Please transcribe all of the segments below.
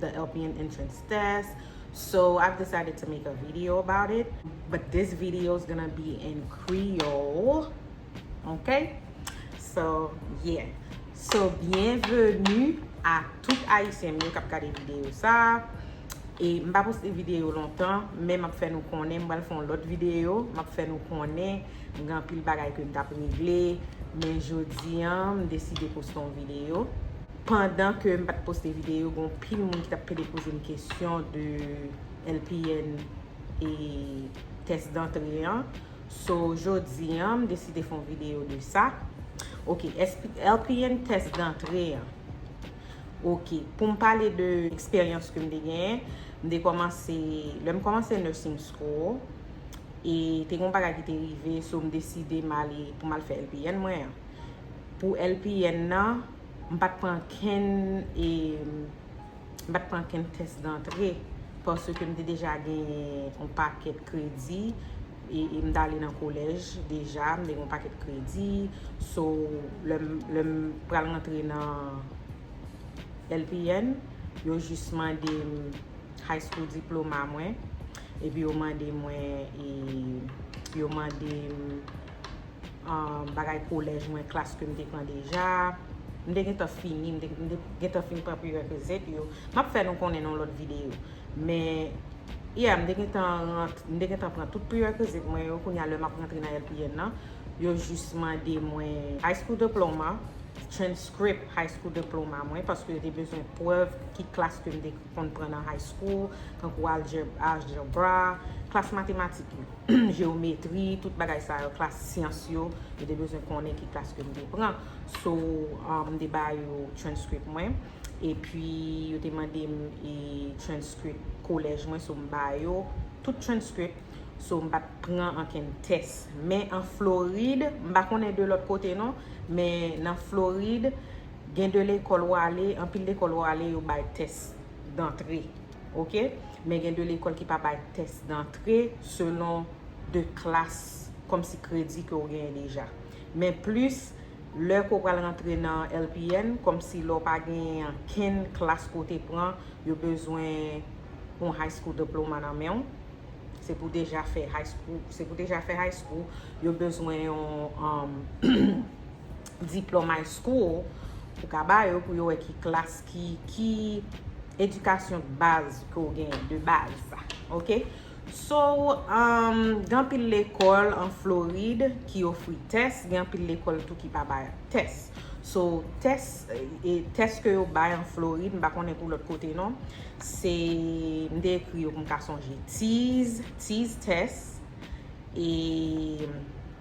the LPN entrance test so I've decided to make a video about it but this video is gonna be in Creole ok so yeah so byenveni a tout ayisyen mwen kap gade video sa e m pa poste video lontan men m ap fè nou konnen m pral fè yon lòt video m ap fè nou konnen m gen anpil bagay ke m t ap regle men jodi an m deside poste yon video Pandan ke m pat poste video gen yon pil moun ki tap pede poze m kesyon de LPN e tès dantre an. So jodi an m deside fon video de sa. Ok LPN tès dantre an. Ok pou m pale de eksperyans ke m te genyen. M te komanse lè m komanse nursing school e te gen yon bagay ki te rive so m deside m ale pou m al fè LPN mwen an. Pou LPN nan. M pa t pran ankenn e m pa t pran ankenn tès dantre paske m te deja genyen yon pakèt kredi e m t ale nan kolèj deja m te gen yon pakèt kredi so lè m pral rantre nan LPN yo jis mande m high school diploma mwen epi yo mande mwen e yo mande m bagay kolèj mwen, klas ke m te pran deja. M te gentan fini, m te gentan fin pran prerequisite yo. M ap fè nou konnen nan yon lòt videyo. Men, yeah, m te gentan pran tout prerequisite mwen yo. Kounye a, lè m ap rantre nan LPN nan, yo jis mande mwen high school diploma, transcript high school diploma mwen, paske yo te bezwen prèv ki klas ke m te konn pran nan high school, tankou aljebra, klas matematik yo, jewometri, tout bagay sa yo, klas syans yo, yo te bezwen konnen ki klas ke m te pran. So, m te ba yo transcript mwen, epi yo te mande m e transcript kolèj mwen, so m ba yo tout transcript, so m pa t pran ankenn tès. Men an Florid, m pa konnen de lòt kote non, men nan Florid, Gen de lekòl ou ale, anpil lekòl ou ale yo bay tès dantre. Ok. Men gen de lekòl ki pa bay tès dantre selon de klas kòm si kredi ke ou genyen deja. Men plis lè ke ou pral rantre nan LPN kòm si lè ou pa genyen ankenn klas ke ou te pran, yo bezwen yon high school diploma nan men ou. Se pou deja fè high school. Se pou deja fè high school. Yo bezwen yon. diplòm high school ou ka ba yo pou yo wè ki klas ki ki edikasyon baz ke w genyen de baz ok so umm gen anpil lekòl an florid ki ofri tès gen anpil lekòl tou ki pa bay tès so tès e tès ke yo bay an florid m pa konnen pou lòt kote non se m te ekri yo pou m ka sonje tiz tiz tès e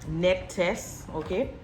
nèt tès ok.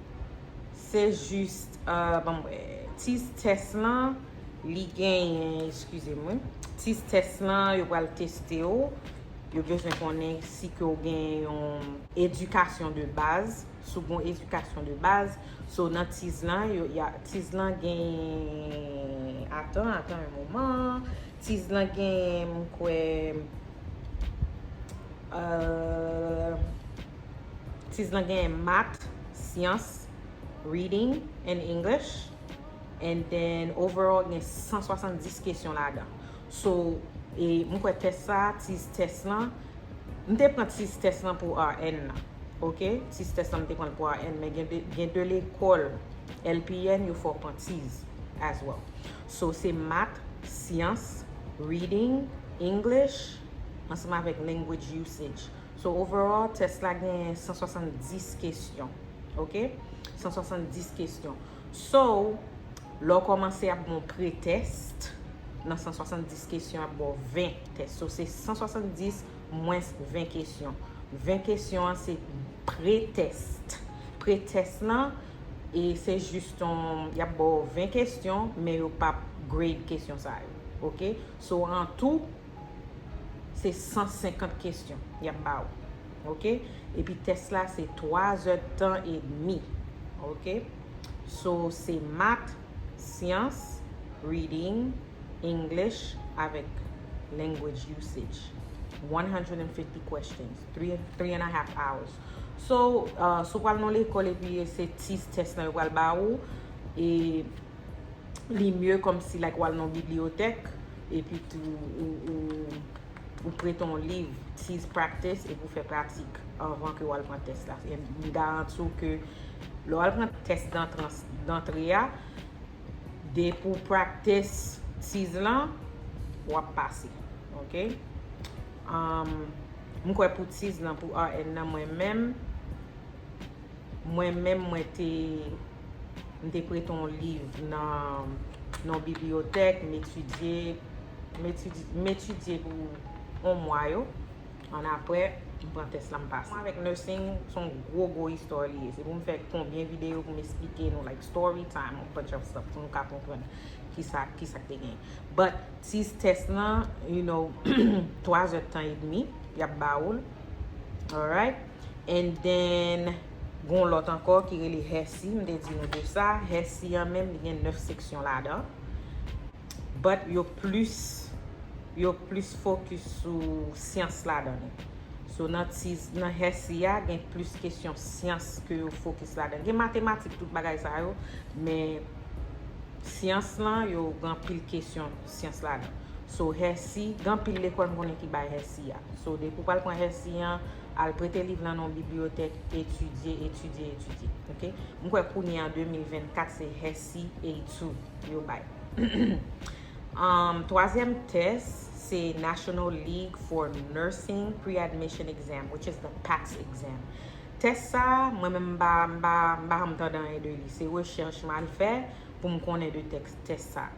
Se jist, banm wè, tizz tès lan li genyen, eskize m wi, tizz tès lan yo pral teste w, yo bezwen konnen si ke w gen yon edikasyon de baz, si w gen yon edikasyon de baz, so nan tizz lan, tizz lan genyen, atan, atan yon moman, tizz lan genyen m kwè, eehh. Tiz lan gen mat, syans, reading and English and then overall gen 170 kesyon ladan. So, e m kwè tès sa, tiz tès lan, m te pran tiz tès lan pou RN nan. Ok, tiz tès lan m te pran l pou RN men gen 2 lekòl LPN yo fè w pran tiz as well. So, se mat, syans, reading, English ansanm avèk language usage. So overall test la gen 170 kesyon ok 170 kesyon so lè w komanse ap gon pre test nan 170 kesyon ap baw 20 test so se 170 mwens 20 kesyon 20 kesyon an se pre test pre test lan e se jis ton yap baw 20 kesyon men yo pap grade kesyon sa yo ok so an tou Se 150 kesyon y ap ba ou. Ok. Epi tès la se 3 zè tan edmi. Ok. So se mat, syans, reading, English avèk language usage. 150 questions. 3 and a half hours. So, si w pral nan lekòl epi se ti tès lan yo pral ba ou, e li mye kòmsi like w al nan bibliyotèk. Epi tou ou prete yon liv Tease Practice epi ou fè pratik anvan ke ou al pran tès la. M garanti w ke lè ou al pran tès dantre a, depi ou practice Tease lan, w ap pase. Ok? M kwè pou Tease lan, pou RN nan mwen menm, Mwen menm mwen te m te prete yon liv nan yon bibliyotèk, m etidye, m etidye pou yon mwa yo, annapre m pran tès la m pase. Mwen avèk nursing se yon gwo gwo istwa li ye, se pou m fè konbyen videyo pou m esplike nou like story time yon bunch of stuff pou nou ka konprann kisa kisa k te gen. But ti tès lan you know 3 zèdtan edmi y ap ba ou l alright. And then, gon lòt ankò ki rele Hesi, m te di nou de sa. Hesi an menm, li gen 9 seksyon ladan. But, yo plis, yo plis fokis sou syans ladan li. So, nan ti, nan Hesi a, gen plis kesyon syans ke yo fokis ladan li. Gen matematik, tout bagay sa yo, men, syans lan, yo gen anpil kesyon. syans la nan. So hesi, gen anpil lekòl m konnen ki bay hesi a. So depi w pral pran hesi an, al prete liv lan nan yon bibliyotèk, etidye, etidye, etidye. Ok? M kwè kounye an 2024 se hesi A2 yo bay. Humm twazyèm tès se National League for Nursing Pre-Admission Exam which is the PACS exam. Tès sa a, mwen menm m pa janm tande anyen de li. Se rechèch m al fè pou m konnen de tès sa.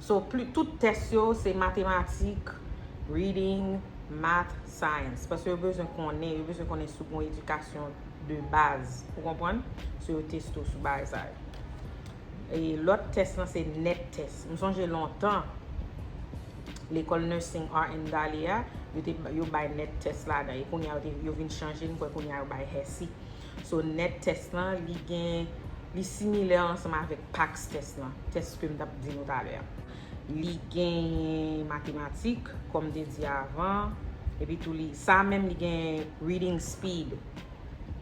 So pli tout tès yo se matematik, reading, math, science. Paske yo bezwen konnen, yo bezwen konnen si w gon edikasyon de baz. Ou konprann? So yo teste w sou bagay sa yo. E lòt tès lan se net tès. M sonje lontan, lekòl nursing RN Dali a, yo te, yo bay net tès ladan. E kounye a yo te, yo vin chanje, m kwè kounye a yo bay HESI. So net test lan li gen li similè ansanm avèk pacs test lan. Test kem tap di nou talè a. Li genyen matematik kòm te di avan epi tou li sa menm li gen reading speed.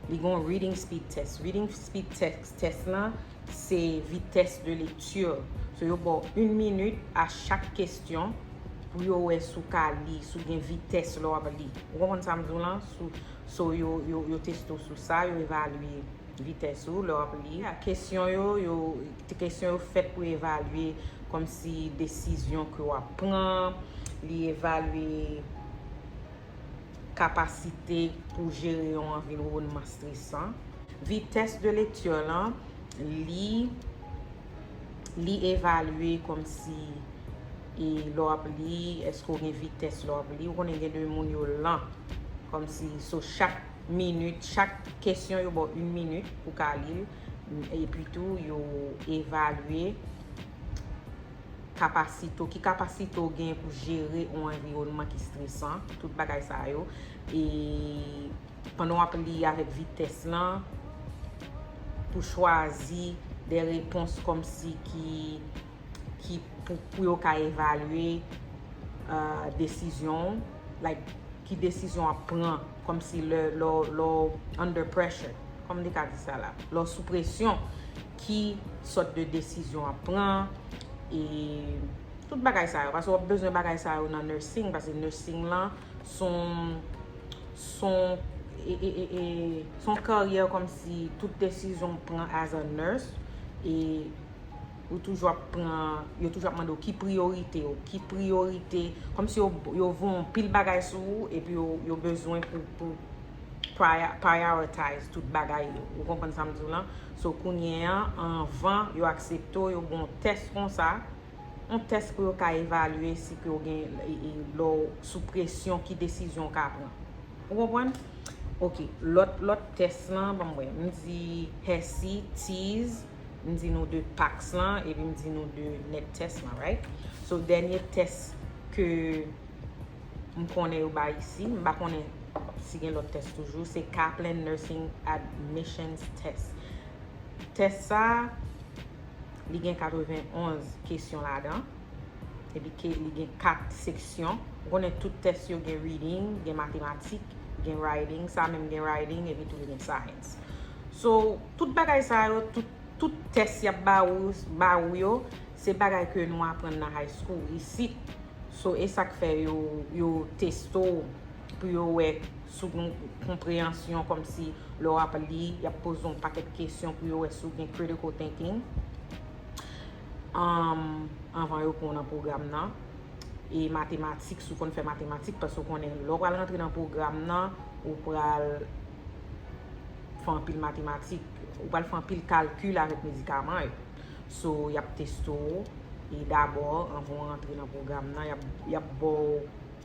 Li gen yon reading speed test. Reading speed test lan se vitès de lekti. So yo baw 1 minit a chak kestyon pou yo wè sou ka li, sou gen vitès lè wap li. Ou konprann sam di w lan? So yo teste w sou sa, yo evalye vitès ou lè w ap li. Kesyon yo, kesyon yo fèt pou evalye kòmsi desizyon ke w ap pran, li evalye kapasite pou jere yon anviwònman stresan. Vitès de lekti lan, li. Li evalye kòm si e lè w ap li, èske w gen vitès lè w ap li. Ou konnen gen de moun yo lan. Kòm si so chak minit, chak kesyon yo ba w in minit pou ka li l. E pi tou yo evalye kapasite w. Ki kapasite w gen pou jere yon anviwònman ki stresan. Tout bagay sa yo. E. Pandan w ap li avèk vitès lan, pou chwazi de repons kòmsi ki pou yo ka evalye desizyon w, like ki desizyon w ap pran kòmsi lè w under pressure, kòman te ka di sa la, lè w sou presyon, ki sòt de desizyon w ap pran, e tout bagay sa yo, paske w ap bezwen bagay sa yo nan nursing, paske nursing lan, son son e e e e son karyè kòmsi tout desizyon ou pran as a nurse e ou toujou ap pran yo toujou ap mande ou ki priyorite ou ki priyorite kòmsi yo yo voye yon pil bagay sou ou epi yo yo bezwen pou pou pwaya pwayawotayz tout bagay yo ou konprann sa m di w lan so kounye an anvan yo aksepte w yo ba w yon tès konsa On tès pou yo ka evalye si ke ou gen lè w sou presyon ki desizyon ou ka pran. Ou konprann? Ok, lòt tès lan, banm wè, m di Hesi, Tease, m di nou de tax lan, epi m di nou de net tès lan, right? So, dènye tès ke m konnen yo bay isi, m pa konnen si gen lòt tès toujou, se Kaplan Nursing Admissions Test. Tès sa a, Li gen 91 kesyon ladan. Epi ke li gen 4 seksyon. Ou konnen tout tès yo gen reading, gen matematik, gen writing. Sa menm gen writing epi tou li gen science. So, tout bagay sa yo, tout tès yap ba ou yo, se bagay ke nou aprann nan high school isit. So, e sak fè yo testo pou yo wè sou yon konpreyansyon kòmsi lè w ap li, y ap poze yon pakèt kesyon pou yo wè si w gen critical thinking anvan yo pran w nan pwogram nan. E matematik, si w konn fè matematik, paske w konnen lè w pral rantre nan pwogram nan, ou pral fè anpil matematik, ou pral fè anpil kalkil avèk medikaman yo. So, y ap teste w e dabò, anvan w rantre nan pwogram nan, y ap ba w.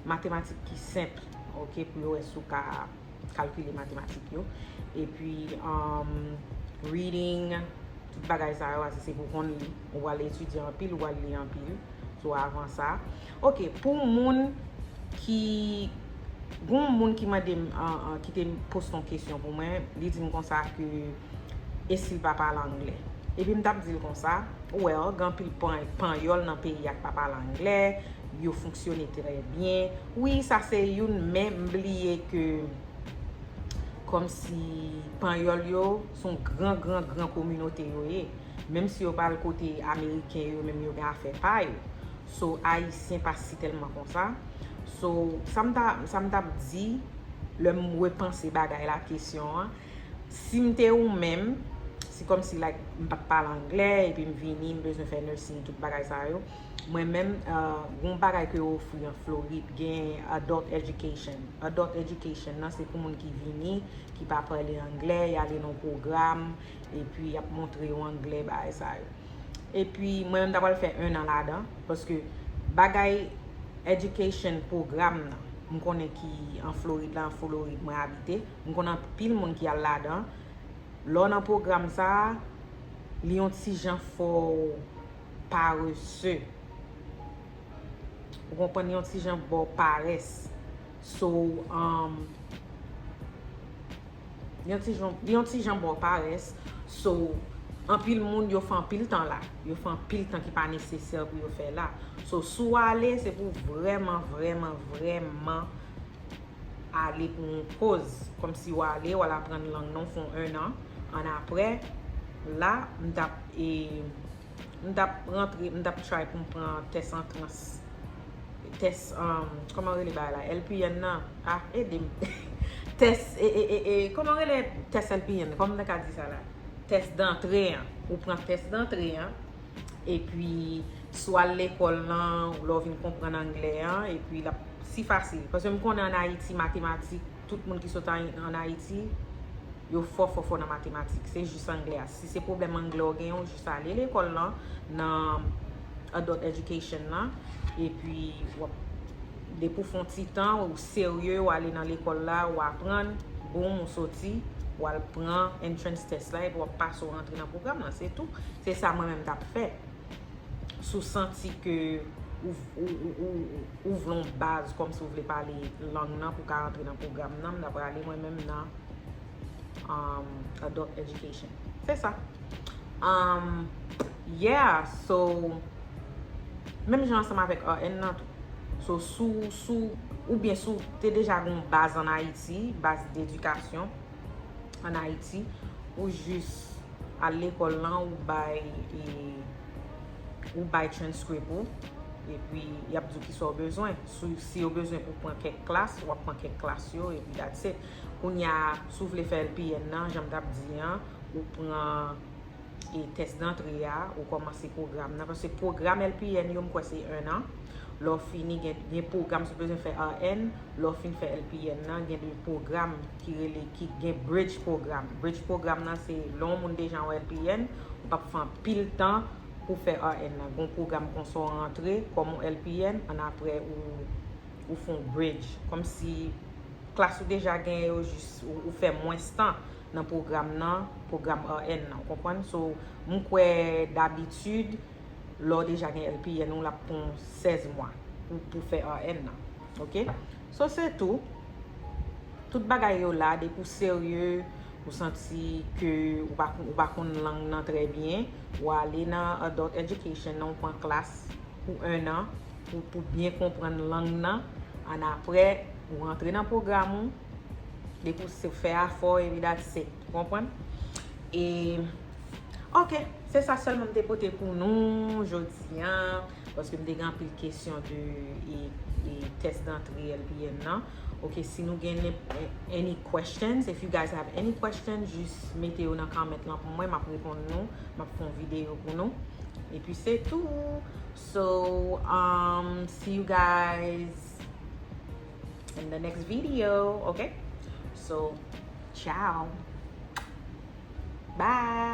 matematik ki senp ok pou yo wè si w ka kalkile matematik yo epi reading tout bagay sa yo ase se pou konn li ou wale etidye anpil ou wale li anpil sou avan sa ok pou moun ki goun moun ki mande m ki te post yon kesyon pou mwen li di m konsa ke e si l pa pale angle. Epi m t ap di l konsa, well, gen anpil panyòl nan peyi a k pa pale angle, yo fonksyone trè byen. Wi, sa se youn men m bliye ke kòmsi panyòl yo s on gran gran gran kominote yo ye. Menm si yo pa al kote ameriken yo menm yo gen afè pa yo. So, ayisyen pa si tèlman konsa. So, sa m ta sa m t ap di lè m repanse bagay la kesyon an. Sim te ou menm, se kòmsi like m pat pale anglè epi m vini m bezwen fè nursing tout bagay sa yo. Mwen menm gon bagay ke yo ofri an Florid gen adult education. Adult education nan se pou moun ki vini ki pa pale anglè, y ale nan yon pwogram epi y ap montre yo anglè bagay sa yo. Epi mwen menm ta pral fè 1 an ladan paske bagay education pwogram nan m konnen ki an Florid la, an Folorid mwen abite. M konn anpil moun ki al ladan. Lè w nan pwogram sa a, li yon ti jan fè w parese. Ou konprann? Li yon ti jan ba w parès. So, li yon ti jan ba w parès. So, anpil moun yo fè anpil tan la. Yo fè anpil tan ki pa nesesè pou yo fè la. So, si w ale, se pou w vrèman, vrèman, vrèman. ale pou yon koz kòm si wa ale wal aprann lang nan w fè yon 1 an an aprè la m tap e m tap rantre m tap try pou m pran tès antrans tès an kòman rele bagay la LPN nan a ede m tès e e e e kòman rele tès LPN nan kòman m ta ka di sa la tès dantre an ou pran tès dantre an epi Si w al lekòl lan, w lè w vin konprann angle an, epi l ap si fasil. Paske m konnen ann Ayiti, matematik, tout moun ki sot ann Ayiti, yo fò fò fò nan matematik. Se jis angle a. Si se pwoblèm angle w genyen, w jis ale lekòl lan, nan adult education lan, epi w ap, depi w fè yon ti tan, ou serye, w ale nan lekòl la, ou aprann, boum, ou soti, ou al pran entrance test la, epi w ap pase, ou rantre nan pwogram lan. Se tou. Se sa mwen menm m t ap fè. si w santi ke ou vle yon baz kòm si w vle pale lang nan pou w ka antre nan pwogram nan, m ta prale mwen menm nan Adult Education. Se sa. Yeah! So, menm jan ansanm avèk RN nan tou. So, si w, si w, oubyen si w te deja gen yon baz an Ayiti, baz d'edikasyon. an Ayiti, ou jis al lekòl lan, ou bay, e, ou bay transcript ou, epi y ap di w ki sa w bezwen. Si yo bezwen pou w pran kèk klas, w ap pran kèk klas yo, epi that's it. Kounye a, si w vle fè LPN nan, jan m t ap di an, ou pran e tès dantre a, ou kòmanse pwogram nan. Paske pwogram LPN yo, m kwè se un an. Lè w fini, gen pwogram, si w bezwen fè RN, lè w fin fè LPN nan, gen de pwogram ki rele ki gen bridge program. Bridge program nan se lè yon moun deja yon LPN, ou pa pou fè anpil tan pou fè RN nan. Gon program konsa ou rantre kòm yon LPN, an aprè ou fè yon bridge. Kòm si klas ou deja genyen yo jis ou fè mwens tan nan program nan, program RN nan. Ou konprann? So, m kwè dabitid, lè ou deja gen LPN ou, l ap pran w 16 mwa pou fè RN nan. Ok? So se tou, tout bagay yo la depi w serye, ou santi ke ou pa konn lang nan trè byen, ou ale nan adult education nan ou pran klas pou 1 an pou byen konprann lang nan, an aprè ou rantre nan pwogram ou, depi w se fè afè w epi that's it, ou konprann? E ok, se sa sèlman m te pote pou nou jodi an. Paske m te gen anpil kesyon de e test d'antre LPN nan. Ok si nou gen any questions, if you guys have any questions jis mete yo nan comment lan pou mwen map reponn nou, map fon video pou nou. E pi se tou. So umm see you guys in the next video ok so ciao bye.